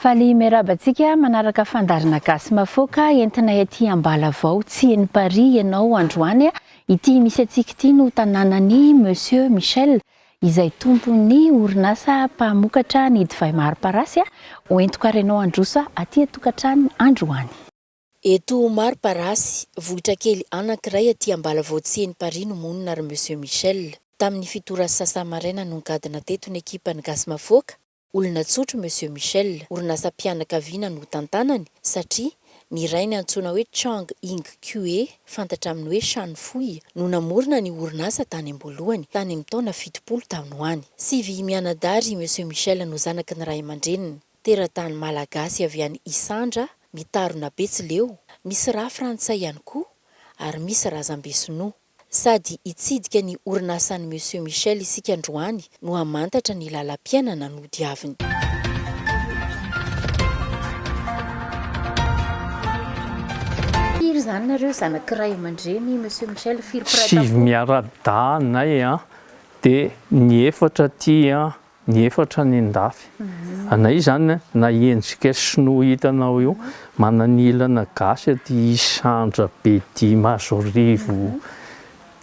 Faly miarahaba antsika manaraka fandaharana Gasy Mafoaka entinay aty Ambalavao tsy eny Paris ianao androany a! Ity misy antsika ity no tanànan'i Monsieur Michel izay tompon'ny orinasa mpamokatra ny divay maro parasy a! Hoentiko ary ianao handroso aty an-tokantrano androany. Eto Maro Parasy, vohitra kely anankiray aty Ambalavao Tsiheny Paris no monina ry Monsieur Michel. Tamin'ny fito ora sy sasany maraina no nigadona teto ny ekipan'ny Gasy Mafoaka, olona tsotra i Monsieur Michel, orinasam-pianakaviana no tantanany satria ny rainy antsoina hoe Chang Ying Kue, fantatra amin'ny hoe Shan Fui, no namorona ny orinasa tany am-boalohany, tany amin'ny taona fitopolo tany ho any. Sivy mianadahy ry Monsieur Michel no zanaky ny ray aman-dreniny. Teratany malagasy avy any Isandra, mitarona Betsileo, misy rà frantsay ihany koa ary misy razambe sinoa. Sady hitsidika ny orinasan'i Monsieur Michel isika androany no hamantatra ny lalam-piainana nodiaviny. Firy izany nareo zanaky ray aman-dreny Monsieur Michel, firy mpiray tampo? Sivy miara-dahy anay an, dia ny efatra aty an Ny efatra nendafy. Anay izany na endrika sinoa hitanao io mananilana gasy aty isandra bedia mazorivo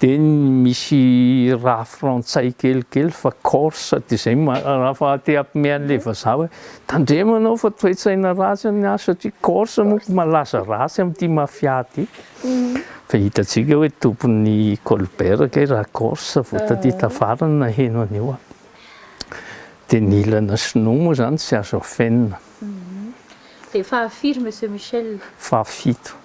dia misy rà frantsay kelikely fa corse dia izay rafa te hampime anle vazaha hoe tandremo ianao fa toetsaina ratsy ny azy satria corse manko malaza ratsy amty mafia ty. Fa hitantsika hoe tompon'ny Colbert kay raha Corse vao taty tafarany naheno an'io an! Dia ny ilana sinoa moa izany tsy azo afenina. Dia fahafiry Monsieur Michel? Fahafito.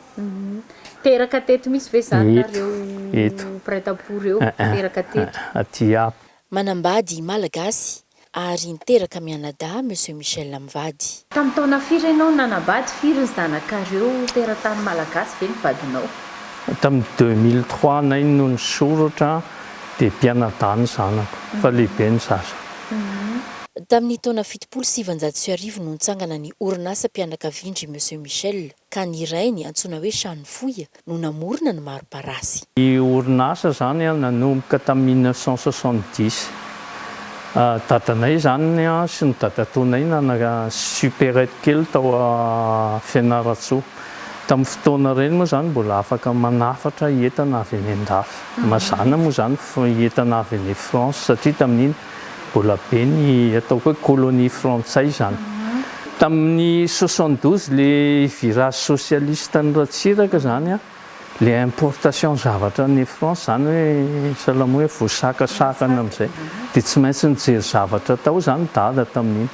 Teraka teto mihitsy ve izany nareo Eto. prête à pour eo? Teraka teto. Aty aby. Manambady Malagasy. ary niteraka mianadahy Monsieur Michel mivady. Tamin'ny taona firy ianao nanambady, firy ny zanakareo, teratany malagasy ve ny vadinao? Tamin'ny deux mille trois nay no nisoratra dia mpianadahy ny zanako fa lehibe ny zaza. Tamin'ny taona fitopolo sy sivinjato sy arivo no nitsangana ny orinasam-pianakavian-dry Monsieur Michel. ka ny iray ny antsoina hoe Chano Foya no namorona ny maro-parasy. Ny orinasa izany nanomboka tamin'ny mille neuf cent soixante-dix. Dadanay izany sy ny dadatoanay nanana supérette kely tao Fianarantsoa. Tamin'ny fotoana ireny moa izany mbola afaka manafatra entana avy any an-dafy. Mazàna moa izany entana avy any France satria tamin'iny Mbola be ny ataoko hoe colonie frantsay izany. Tamin'ny soixante douze ilay virage socialiste an'i Ratsiraka izany an, ilay importation zavatra any France izany hoe salama hoe voasakasakana amin'izay dia tsy maintsy nijery zavatra tao izany dada tamin'iny.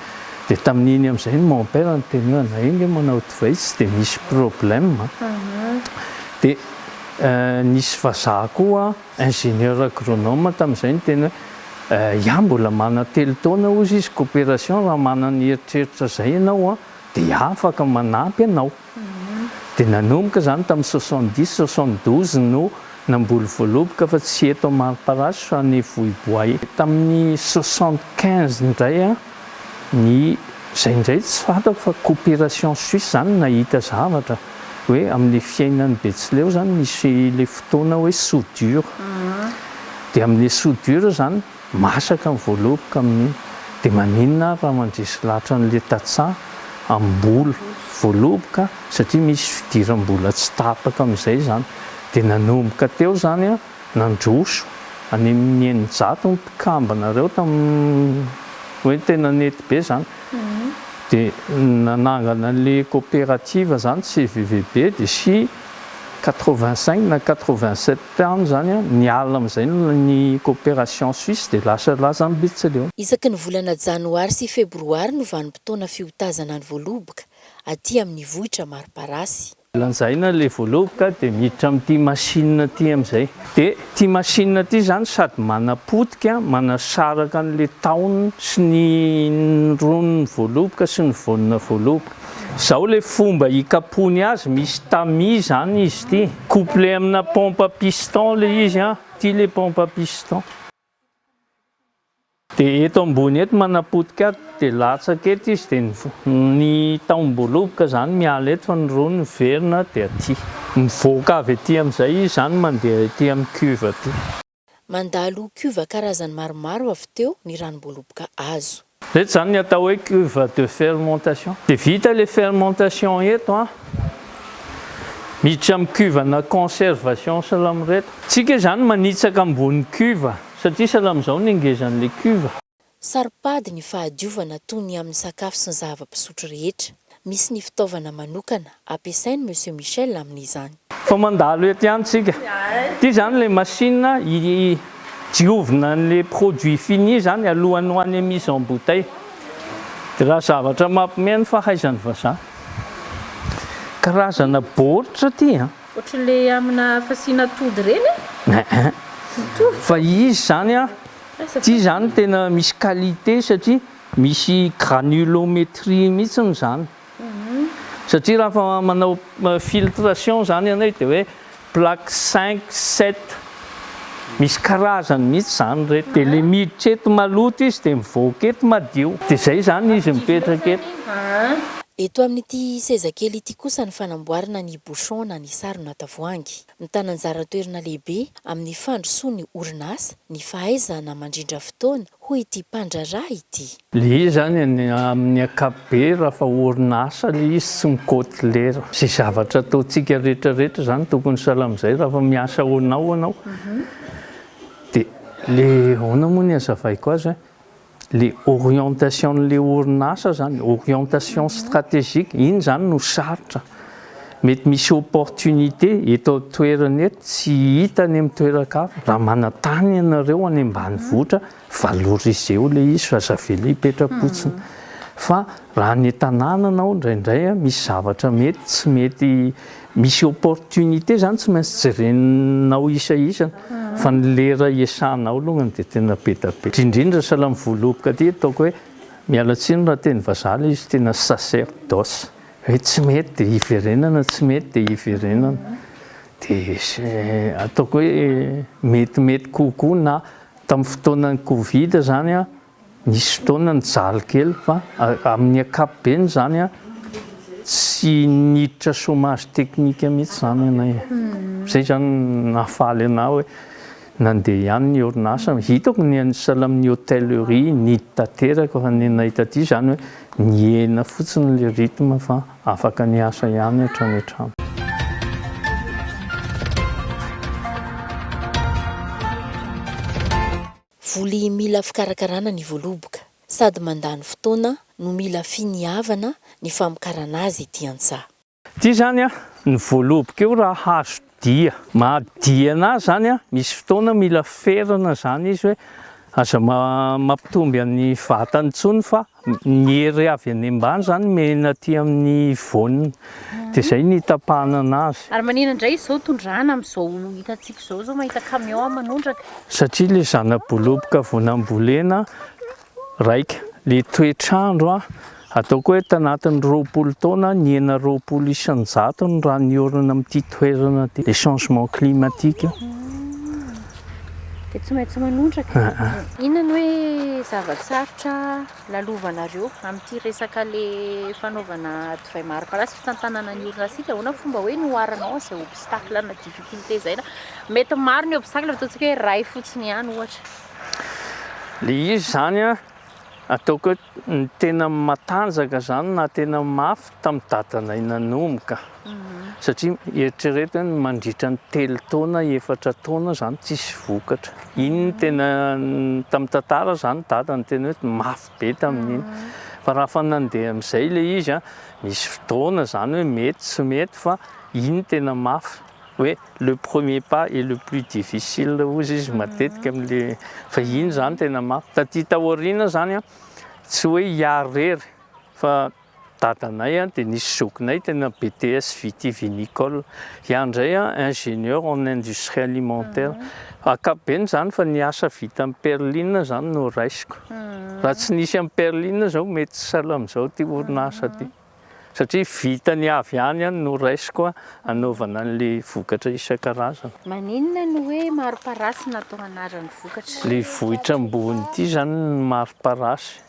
Dia tamin'iny amin'izay no mon père niteny hoe anay io nge manao divay tsy dia misy problème an. Dia nisy vazaha koa Ingénieur agronome tamin'izay ny teny hoe iah mbola manana telo taona hozy izy coopération raha manana eritreritra zay ianao dia iah afaka manampy anao dia nanomboka zany tamin'ny soixante dix soixante douze no namboly voaloboka fa tsy eto Amariparasy fa any Vohiboay tamin'ny soixante quinze indray ny izay indray tsy fantako fa coopération suisse izany nahita zavatra hoe amin'ilay fiainan'i Betsileo izany misy ilay fotoana hoe soudure dia amin'ilay soudure izany masaka ny voaloboka amin'iny dia maninona ary raha mandresy lahatra an'ilay tantsaha amin'ny mbola voaloboka satria misy fidiram-bola tsy tapaka amin'izay izany dia nanomboka teo izany an Nandroso any amin'ny eninjato ny mpikambanareo tamin'ny hoe tena nety be izany. Dia nanangana ilay coopérative izany CVVB dia sy quatre-vingt cinq na quatre-vingt sept any izany an, niala amin'izay ny coopération suisse dia lasa lazambetsileo. Isaky ny volana janoary sy febroary no vanim-potoana fiotazana ny voaloboka aty amin'ny vohitra Mariparasy. Lanjaina le voalobo ka de miditra amin'ity machine ity amin'izay. De ity machine ity izany sady manapotika, manasaraka an'le tahony sy ny ronon'ny voaloboka sy ny vonona voaloboka. Izao le fomba hikapohany azy, misy tamis izany izy ity. Couplé amina pompe à piston le izy an. Ity le pompe à piston. Dia eto ambony eto manapotika ato dia latsaka eto izy dia ny tahom-boaloboka izany miala eto fa ny roa niverina dia aty. Mivoaka avy aty amin'izay izy izany mandeha aty amin'ny cuve aty. Mandalo cuve karazany maromaro avy teo ny ranom-boaloboka azo. Izay izany ny atao hoe cuve de fermentation. Dia vita ilay fermentation eto an! Miditra amin'ny cuve ana conservation salamo ireto. Tsika izany manitsaka ambony cuve satria salamo izao ny hangezan'ilay cuve. Saropady ny fahadiovana toy ny amin'ny sakafo sy ny zava-pisotro rehetra. Misy ny fitaovana manokana ampiasain'i Monsieur Michel amin'izany. Fa mandalo eto ihany tsika. Ity izany ilay machine hidiovina an'ilay produit fini izany alohan'ny ho any amin'ny mise en bouteille. Dia raha zavatra mampiomehy ny fahaizan'ny vazaha. Karazana baoritra ity an. Ohatran'ilay amina fasiana atody ireny an. Ehe. Mitovy. Fa izy izany an, ity izany tena misy qualité satria. Misy granulométrie mihitsiny izany satria rafa manao filtration izany ianao dia hoe plaque cinq, sept, misy karazany mihitsy izany ireto, dia ilay miditra eto maloto izy dia mivoaka eto madio, dia izay izany izy mipetraka eto. Eto amin'ity seza kely ity kosa ny fanamboarana ny bouchon na ny sarona tavoahangy. Mitana anjara toerana lehibe amin'ny fandrosoan'ny orinasa ny fahaizana mandrindra fotoana, hoy ity mpandraharaha ity. Ilay izy izany amin'ny ankapobeny raha fa orinasa ilay izy tsy mikaoty lera. Izay zavatra ataontsika rehetrarehetra izany tokony sahala amin'izay raha fa miasa ho anao ianao dia ilay ahoana moa ny hazavaiko azy an? le orientation le orinasa zany orientation strategique iny zany no sarotra mety misy opportunité eto an-toerana eto tsy hita any amin'ny toeran-kafa raha manantany ianareo any ambanivohitra valorisez-o le izy fa aza avela hipetra-potsiny fa raha any an-tanàna anao indraindray misy zavatra mety tsy mety Misy opportunité zany tsy maintsy jerenao isa isa fa ny lera iasanao longany dia tena be da be indrindra sahala ny voaloboka aty ataoko hoe miala tsiny raha teny vazaha le izy tena sacerdoce hoe tsy mety dia hiverenana tsy mety dia hiverenana dia ataoko hoe metimety kokoa na tamin'ny fotoanan'ny covid zany an Nisy fotoana nijaly kely fa amin'ny ankapobeny izany tsy niditra chômage technique mihitsy izany ianay e. Izay izany nahafaly anah hoe nandeha ihany ny orinasa. Hitako ny an'i sahala amin'ny hôtellerie nidy tanteraka fa ny anay taty izany hoe nihena fotsiny ilay rythme fa afaka niasa ihany hatrany hatrany. Voly mila fikarakarana ny voaloboka, sady mandany fotoana no mila finiavana ny famokarana azy ety an-tsaha. Ity izany ny voaloboka io raha hazo dia. Maha dia an'azy izany, misy fotoana mila ferana izany izy hoe aza mampitomby an'ny vatany intsony fa Ny hery avy any ambany izany mihena aty amin'ny voany, dia izay no hitapahana anazy. Ary manina indray izy izao tondrahana amin'izao hitantsika izao, izao mahita camion manondraka. Satria ilay zana-boloboka vao nambolena raika, ilay toetr'andro ataoko hoe tanatin'ny roapolo taona nihena roapolo isan-jato ny rà niorina amin'ity toerana ity, le changement climatique. dia tsy maintsy manondraka. Inona no hoe zava-tsarotra lalovanareo amin'ity resaka le fanaovana divay mari-pala sy fitantanana ny orinasa ity? Ahoana fomba hoe noharanao an'izay obstacle na difficulté izay na mety maro ny obstacle fa ataontsika hoe iray fotsiny ihany ohatra. Le izy izany a. Ataoko hoe ny tena matanjaka izany na tena mafy tamin'ny dadanay nanomboka. Satria eritrereto hoe ny mandritra ny telo taona, efatra taona izany tsisy vokatra. Iny no tena, tamin'ny tantara izany dada no tena hoe mafy be tamin'iny. Fa raha fa nandeha amin'izay ilay izy, misy fotoana izany hoe mety, tsy mety fa iny tena mafy. hoe le premier pas est le plus difficile hozy izy matetika amle fa iny zany tena mafy taty taoriana zany an tsy hoe hiary rery fa dadanay an de nisy zokinay tena BTS vitivinicole hiany ndray an ingenieur en industrie alimentaire akapobeny zany fa ny asa vita am perline zany no raisiko raha tsy nisy am perline zao mety tsy sahala amzao ty orinasa ty. satria vitany avy any an no raisiko anaovana anle vokatra isankarazany. Maninona no hoe Maroparasy no atao anaran'ny vokatra? Le vohitra ambony ity zany no Maroparasy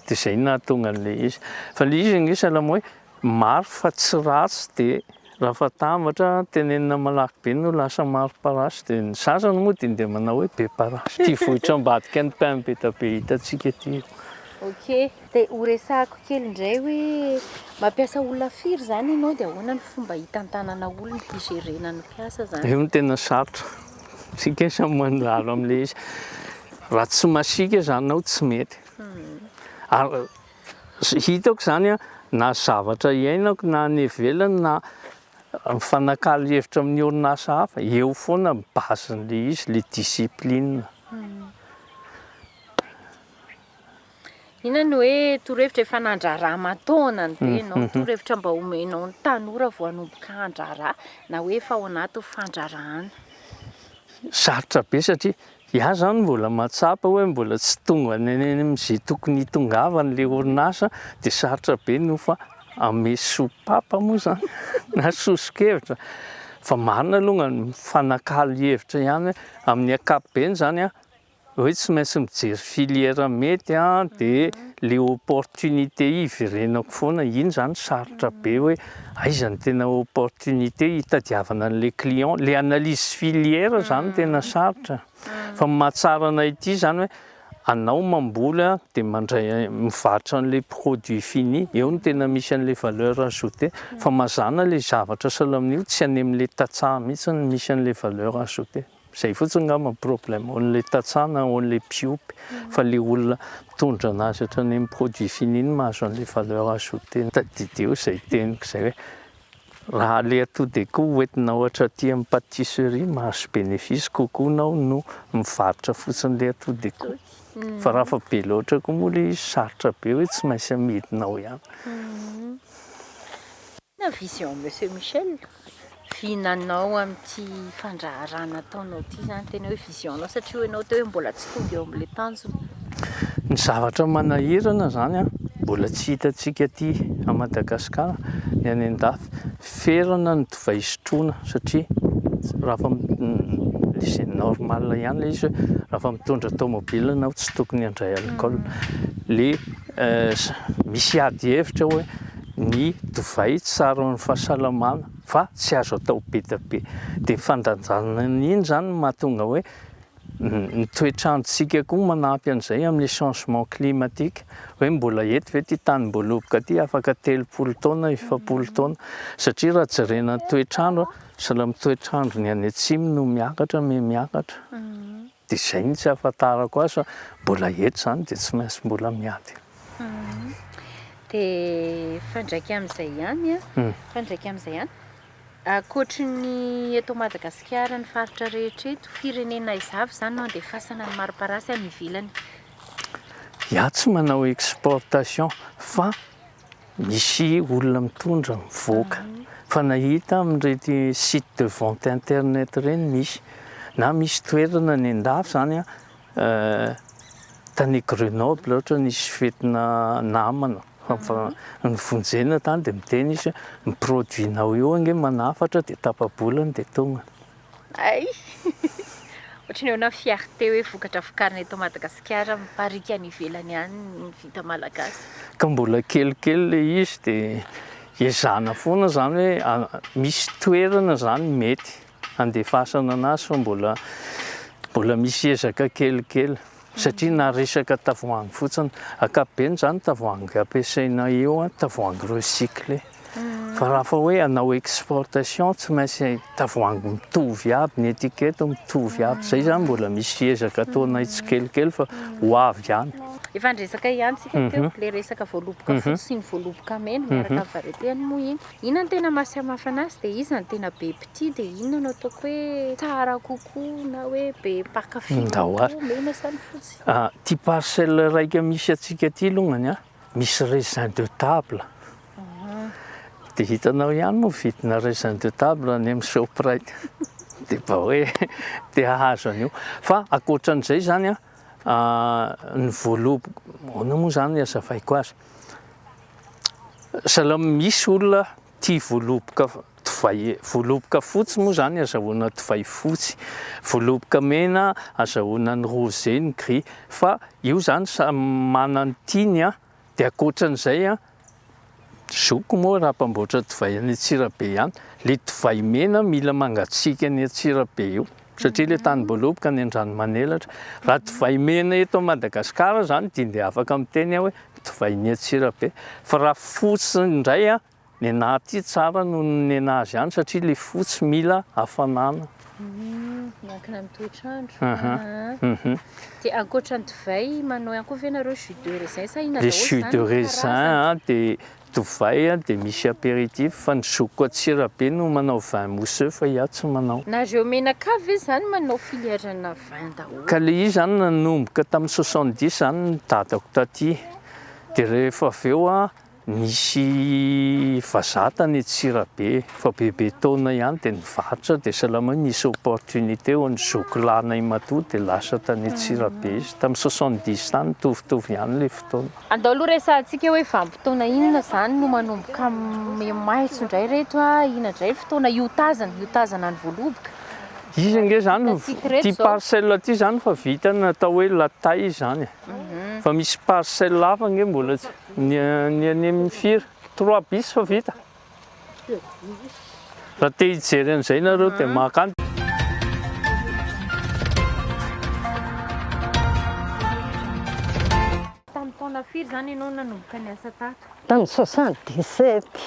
de zay no nahatonga anle izy fa le izy anie salama hoe maro fa tsy ratsy de. Raha fatambatra, tenenina malaky be no lasa maro parasy dia ny sasany moa dia dia manao hoe be parasy. Ity vohitra ambadika ny pain beta be hitantsika ity io. Ok, dia ho resahako kely indray hoe mampiasa olona firy izany ianao dia ahoana ny fomba hitantanana olona, higerena ny mpiasa izany? Io no tena sarotra, isika samy mandrara amin'ilay izy. Raha tsy masiaka izany ianao tsy mety. Ary Hitako izany an, na zavatra iainako na any ivelany na mifanakalo hevitra amin'ny orinasa hafa, eo foana ny base-n'ilay izy, ilay discipline. Inona no hoe torohevitra efa nandraraha aman-taonany be mhm, ianao? Mhm. Torohevitra mba omenao ny tanora vao hanomboka handraraha na hoe efa ao anatin'ny fandrarahana? Sarotra be satria Iah zany mbola mahatsapa oe mbola tsy tonga any amin'izay tokony hitongavany le orinasa de sarotra be ny ho fa ame sopapa moa zany na sosokevitra fa marina alongany mifanakalo hevitra ihany amin'ny ankapobeny zany an oe tsy maintsy mijery filière mety an de le opportunité iverenako foana iny zany sarotra be oe Aiza no tena opportunité hitadiavana an'ilay client? Ilay analyse filière izany no tena sarotra. Fa ny mahatsara anay ity izany hoe anao mamboly a, dia mandray mivarotra an'ilay produit fini, eo no tena misy an'ilay valeur ajoutée. Fa mazàna ilay zavatra sao lamin'io tsy any amin'ilay tantsaha mihitsy no misy an'ilay valeur ajoutée. Zay fotsiny ngamba ny problème, only tantsaha na only mpiompy, fa le olona mitondra anazy hatrany amin'ny produit fini iny mahazo an'le valeur ajoutée. Tadidio zay teniko zay hoe raha le atody de koa hoentinao hatraty amin'ny patisserie mahazo bénéfice kokoa nao no mivarotra fotsiny le atody de koa, fa raha fa be loatra koa moa le izy sarotra be hoe tsy maintsy amidinao ihany. Inona vision Monsieur Michel? Vinanao amin'ity fandraharahana ataonao ity izany tena hoe vision anao satria hoy ianao teo hoe mbola tsy tonga eo amin'ilay tanjona. Ny zavatra manahirana izany mbola tsy hitantsika aty à Madagascar ny any an-dafy. Ferana ny divay sotroina satria rafa c'est normal ihany ilay izy hoe rafa mitondra tomobile ianao tsy tokony handray alcool. Le misy ady hevitra hoe ny divay tsy tsara ho an'ny fahasalamana fa tsy azo atao be dia be. Dia ny fandanjana an'iny izany no mahatonga hoe ny toetr'androntsika koa manampy an'izay amin'ny changement climatique. Hoe mbola eto ve ity tanimboaloboka ity afaka telopolo taona, efapolo taona? Satria raha jerena ny toetr'andro, sahala amin'ny toetr'andron'ny any atsimo no miakatra, mihamiakatra. Dia izay no tsy ahafantarako azy fa mbola eto izany dia tsy maintsy mbola miady. Dia fa ndraika amin'izay ihany an, fa ndraika amin'izay ihany, ankoatry ny eto Madagasikara ny faritra rehetra eto, firenena aiza avy izany no andefasana ny mariparasy any ivelany? Iah tsy manao exportation fa Misy olona mitondra mivoaka fa nahita amin'ireny site de vente internet ireny misy na misy toerana any an-dafy izany an, tany Grenoble ohatra nisy fetina namana nivonjena tany dia miteny izy hoe ny produit-nao io ange manafatra dia tapa-bolany dia tonga. Hay! Ohatran'ny ahoana fierté hoe vokatra vokarina eto Madagasikara mipariaka any ivelany any ny vita malagasy? Ka mbola kelikely le izy de ezahana foana zany hoe a misy toerana zany mety handefasana anazy fa mbola mbola misy ezaka kelikely. satria na resaka tavoahangy fotsiny, ankapobeny zany tavoahangy ampiasaina eo an, tavoahangy recyclé, fa raha fa hoe hanao exportation tsy maintsy tavoahangy mitovy aby ny étiquette mitovy aby, zay zany mbola misy ezaka ataonay tsikelikely fa ho avy ihany. Efa niresaka ihany tsika teo le resaka voaloboka fotsy sy ny voaloboka mena miaraka amin'ny variété-ny moa iny. Inona no tena maha samafana azy dia iza no tena be mpitia dia inona no ataoko hoe tsara kokoa na hoe be mpankafy kokoa, mena sa ny fotsy? Ity parcelle raika misy antsika ity alongany a, misy raisin de table, dia hitanao ihany moa vidina raisin de table any amin'ny shoprite dia mba hoe te hahazo an'io, fa ankoatra an'izay izany a, ny voaloboka, ahoana moa izany ny hazavaiko azy? Salamo Misy olona tia voaloboka divay Voaloboka fotsy moa izany azahoana divay fotsy, voaloboka mena azahoana ny rose, ny gris, fa io izany samy manana ny tiany an! Dia ankoatran'izay an! Zokiko moa raha mpamboatra divay any Antsirabe any, ilay divay mena mila mangatsiaka any Antsirabe eo. Satria ilay tany Boloboka any Andranomanelatra. Raha divay mena eto Madagascar izany dia dia afaka miteny aho hoe divay ny Antsirabe. Fa raha fotsy indray an, ny anah aty tsara noho ny anah azy any satria ilay fotsy mila hafanana. Miankina amin'ny toetr'andro. Aham. Dia ankoatra ny divay manao ihany koa ve nareo jus de raisin sa inona daholo izany ny karazany? Le jus de raisin dia Divay a de misy apéritif fa ny zokiko atsy rabe no manao vin mousseux fa iah tsy manao. Nareo menaka ve zany manao filièrena vin daholo? Ka le izy zany nanomboka tamin'ny soixante dix zany ny dadako taty de rehefa avy eo a nisy vazaha tany Antsirabe fa bebe taona ihany de nivarotra de salama hoe misy opportunité ho an'ny zoky lahinay matoa de lasa tany Antsirabe izy tamin'ny soixante dix tany mitovitovy ihany le fotoana. Andao aloha resahantsika hoe vanim-potoana inona izany no manomboka maitso indray ireto, inona indray fotoana iotazana, iotazana ny voaloboka. Izy ange izany, ity parcelle ity izany efa vita ny atao hoe la taille izany e. Mhm. Fa misy parcelle hafa ange mbola tsy, ny an'i Mifir, trois bis efa vita. Raha te hijery an'izay ianareo dia maka an. Tamin'ny taona firy izany ianao nanomboka niasa tato? Tamin'ny soixante dix sept.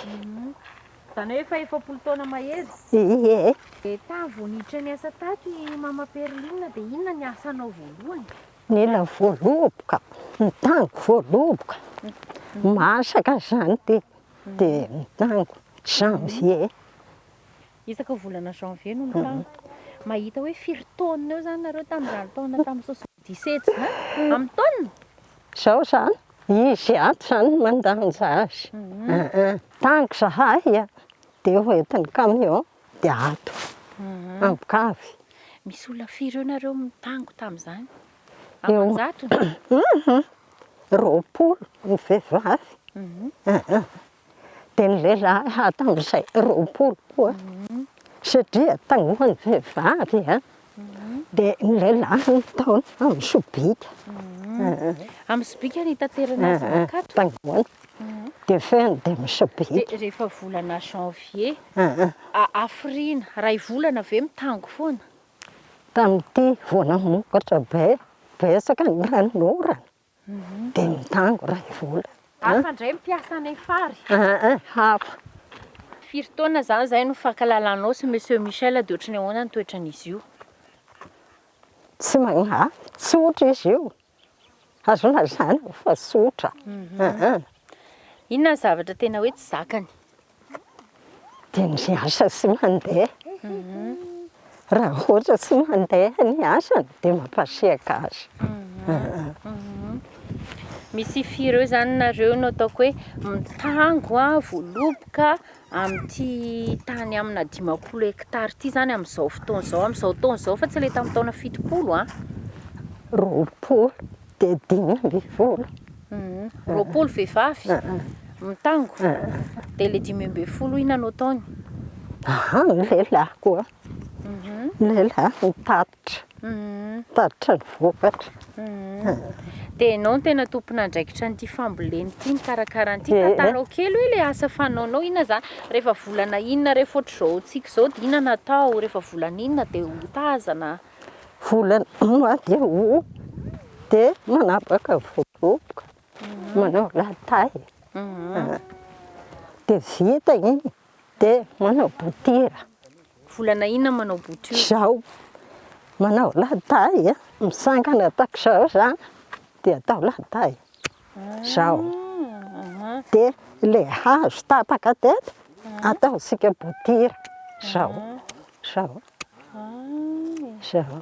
Izany hoe efa efapolo taona mahery? Ie. Dia tamin'ny vao niditra niasa tato i Mama Perline dia inona ny asanao voalohany? Nila voaloboka, ny tany voaloboka, masaka izany dia. dia mitango janvier. Isaky volana janvier no mitango. Mahita hoe firy taonina eo izany nareo tamin'izany taona tamin'ny soixante dix sept izany? Amin'ny taonina? Izao izany, izy ato izany no mandanja azy. Mitango izahay dia hoentin'ny camion dia ato, ambokavy. Misy olona firy eo nareo mitango tamin'izany? Aman-jato? Roapolo ny vehivavy, dia ny lehilahy hatramin'izay roapolo koa. Satria taloha ny vehivavy dia ny lehilahy no nitaona amin'ny sobika. Amin'ny sobika no hitaterana azy mankato? Taloha, dia fehiny dia amin'ny sobika. Dia rehefa volana janvier, hafiriana, iray volana ve mitango foana? Tamin'ity vao namokatra be, betsaka ny ranonorana dia mitango iray volana. Hafa indray ny mpiasa any Fary? Aa, hafa. Firy taona izany izay no nifankalalanao sy Monsieur Michel dia ohatry ny ahoana ny toetran'izy io? Tsy magnavy, tsotra izy io. Azo lazaina fa tsotra. Inona ny zavatra tena hoe tsy zakany? Dia ny asa tsy mandeha. Raha ohatra tsy mandeha ny asany dia mampasiaka azy. Misy fy ireo izany nareo no ataoko hoe mitango, voaloboka, amin'ity tany amina dimampolo hekitara ity izany amin'izao fotoana izao, amin'izao taona izao fa tsy ilay tamin'ny taona fitopolo an. Roapolo dia dimy ambin'ny folo. Roapolo vehivavy mitango dia ilay dimy ambin'ny folo inona no ataony? Ny lelahiko, ny lelahiko mitady Tatitra ny vokatra. Dia ianao no tena tompon'andraikitra an'ity fambolena ity, mikarakara an'ity. Tantarao kely hoe ilay asa fanaonao inona izany? Rehefa volana inona rehefa ohatr'izao antsika izao dia inona no atao? Rehefa volana inona dia hotazana? Volana mois de aout dia manapaka voaloboka, manao la taille. Dia vita iny Dia manao bouture. Volana inona manao bouture? Izao, manao ladahy a, misangana ataoko izao izany dia atao ladahy. Izao. Dia ilay hazo tapaka teto, ataontsika bouture. Izao. Izao. Izao.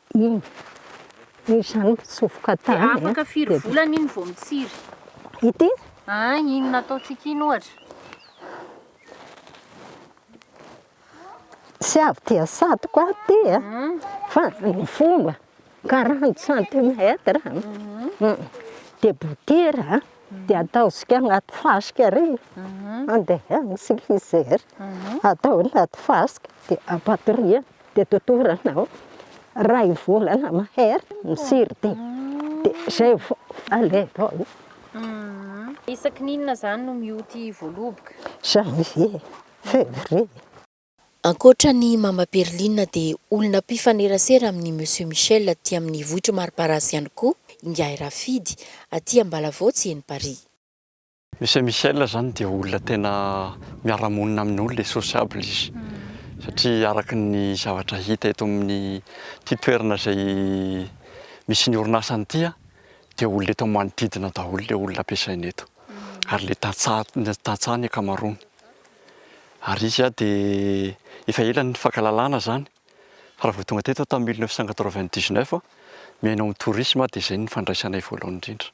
Iny. Hoy izany mpitsofoka tany. Dia afaka firy volana iny vao mitsiry? Ity? Ah, iny nataontsika iny ohatra. Tsy avy dia satoko aty e. Hmm. Fa ny fomba, 40 centimètre. Hmm. Hmm. Dia botera, dia ataontsika anaty fasika ary. Andehanisika izay. Atao anaty fasika, dia ampatoriana. Dia totorina anao iray volana mahery mitsiry dia izay vao alenao. Isaky ny inona izany no mioty voaloboka? Janvier, Février. Ankoatra an'i Mama Perline dia olona mpifanerasera amin'i Monsieur Michel aty amin'ny vohitr'i Mariparasy ihany koa Ingahy Rafidy, aty Ambalavotsy eny Paris. Monsieur Michel zany dia olona tena miara-monina amin'ny olona e, sociable izy satria araka ny zavatra hita eto amin'ity toerana izay misy ny orinasany ity a, dia olona eto manodidina daholo ilay olona ampiasainy eto ary ilay tantsaha, tantsaha ny ankamaroany. Ary izy a dia efa ela ny nifankahalalana zany fa raha vao tonga teto aho tamin'ny mille neuf cent quatre-vingt-dix-neuf, mihaino amin'ny tourisme aho dia izay no nifandraisanay voalohany indrindra.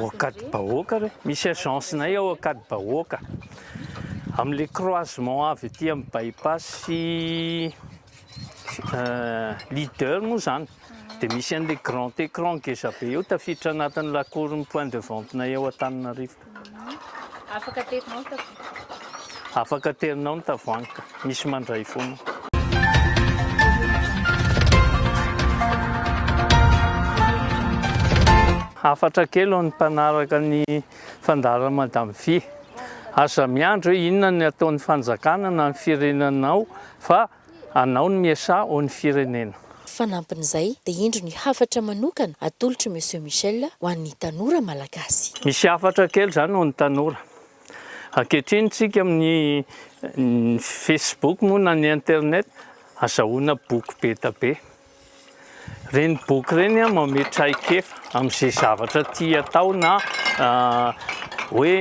Ao Ankadibahoaka re, misy agence-nay ao Ankadibahoaka, amin'ilay croisement avy aty amin'ny bypass-y leader moa izany, dia misy an'ilay grand écran ngeza be eo, tafiditra anatin'ny la cour-n'ny point de vente-nay ao Antananarivo. Afaka aterinao ny tavoahangy. Afaka aterinao ny tavoahangy ka. misy mandray foana. Hafatra kely ho an'ny mpanaraka ny fandaharan'i Madame Fy. Aza miandry hoe inona ny ataon'ny fanjakana na ny firenanao fa anao ny miasà ho ny firenena. Fanampin'izay dia indro ny hafatra manokana atolotr'i Monsieur Michel ho an'ny tanora malagasy. Misy hafatra kely izany ho an'ny tanora. Ankehitriny tsika amin'ny Facebook moa na ny internet azahoana boky be da be. Ireny boky ireny an manome traikefa amin'izay zavatra tia atao na hoe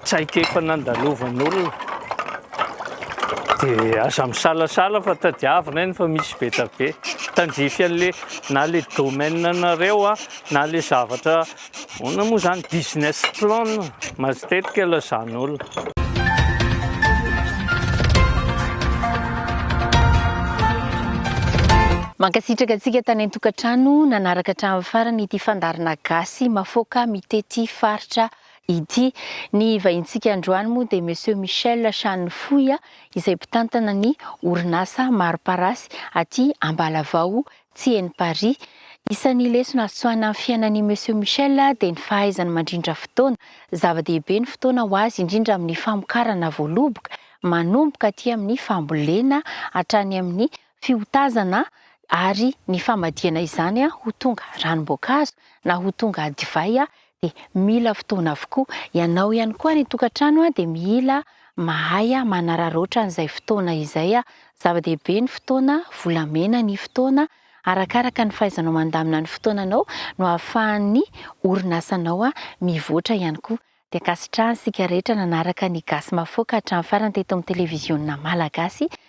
traikefa nandalovan'olona. Dia aza misalasala fa tadiavina eny fa misy be da be. Tandrify an'le na le domaine anareo an na le zavatra Ahoana moa izany business plan? Matetika aloha izany olona. Mankasitraka antsika tany an-tokantrano nanaraka hatramin'ny farany ity fandaharana gasy mafoaka mitety faritra ity. Ny vahintsika androany moa dia Monsieur Michel Shanifohy izay mpitantana ny orinasa mari-parasy aty Ambalavao Tsy eny Paris. Isan'ny lesona azo tsoahina amin'ny fiainan'i Monsieur Michel dia ny fahaizany mandrindra fotoana. Zava-dehibe ny fotoana ho azy, indrindra amin'ny famokarana voaloboka, manomboka aty amin'ny fambolena hatrany amin'ny fiotazana ary ny famadihana izany ho tonga ranom-boankazo na ho tonga divay dia mila fotoana avokoa. Ianao ihany koa any an-tokantrano dia mila mahay manararaotra an'izay fotoana izay. Zava-dehibe ny fotoana, volamena ny fotoana. Arakaraka ny fahaizanao mandamina ny fotoananao no ahafahan'ny orinasanao mivoatra ihany koa. Dia ankasitrahantsika rehetra nanaraka ny Gasy Mahafaoka hatramin'ny farany teto amin'ny Televiziona Malagasy